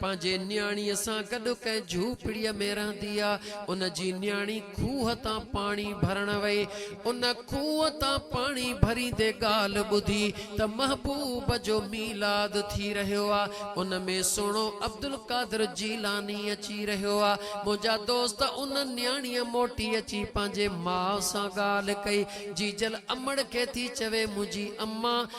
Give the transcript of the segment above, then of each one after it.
پنهنجي نياڻيء سان گڏ ڪنهن جهوپڙيء ۾ رهندي آ. ان جي نياڻي کوهه تان پاڻي ڀرڻ وئي. ان کوهه تان پاڻي ڀريندي ڳالهه ٻڌي ته محبوب جو ميلاد ٿي رهيو آ. ان ۾ سهڻو عبدالقادر جيلاني اچي رهيو آ. منهنجا دوست ان نياڻيء موٽي اچي پنهنجي ماء سان ڳالهه ڪئي. جيجل امڙ کي ٿي چوي منهنجي امان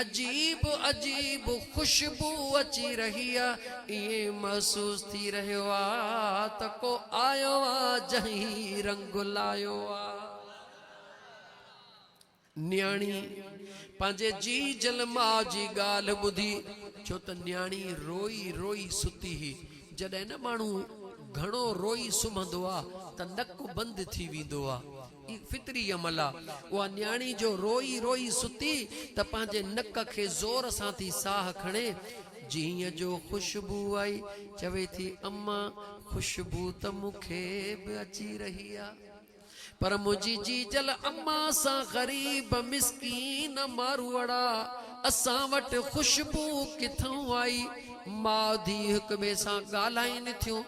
عجيب عجيب خوشبو اچي رهي آ ائين محسوس ٿي رهيو آ ته ڪو آيو آ جنهن هي رنگ لايو آ. نياڻي پنهنجي جي جل ماء جي ڳالهه ٻڌي ڇو ته نياڻي روئي روئي ستي هئي جڏهن نه ماڻهو گهڻو روئي سمهندو آ ته نڪ بند ٿي ويندو آ. هي فطري عمل آ. اها نياڻي جو روئي روئي ستي ته پنهنجي نڪ کي زور سان ٿي ساهه کڻي جيئن جو خوشبو آئي. چوي ٿي اما خوشبو ته مون کي به اچي رهي آ. پر منهنجي جيجل اما سان غريب مسڪين ماروئڙا اسان وٽ خوشبو ڪٿئون آئي. ماء ڌيء هڪ ٻئي سان ڳالهائين ٿيون.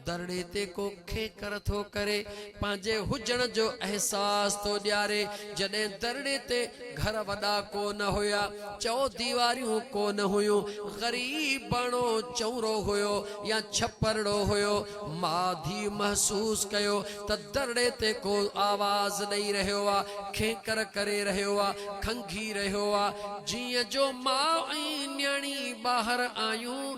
ڌرڻي تي ڪو کينڪر ٿو ڪري، پنهنجي هجڻ جو احساس ٿو ڏياري، جڏهن ڌرڻي تي گهر وڏا ڪو نه هيا، چئو ديواريون ڪو نه هيون، غريباڻو چؤرو هيو يا ڇپرڙو هيو، ماء ڌيء محسوس ڪيو ته ڌرڻي تي ڪو آواز ڏئي رهيو آ، کينڪر ڪري رهيو آ، کنگهي رهيو آ، جيئن جو ماء ۽ نياڻي ٻاهر آيون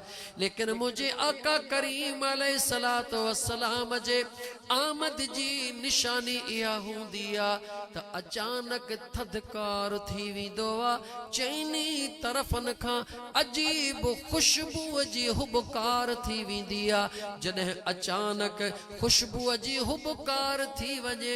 ليڪن منهنجي آقا ڪريم عليه الصلوة والسلام جي آمد جي نشاني اها هوندي آ ته اچانڪ ٿڌڪار ٿي ويندو آ، چئني طرفن کان عجيب خوشبوء جي هٻڪار ٿي ويندي آ، جڏهن اچانڪ خوشبوء جي هٻڪار ٿي وڃي،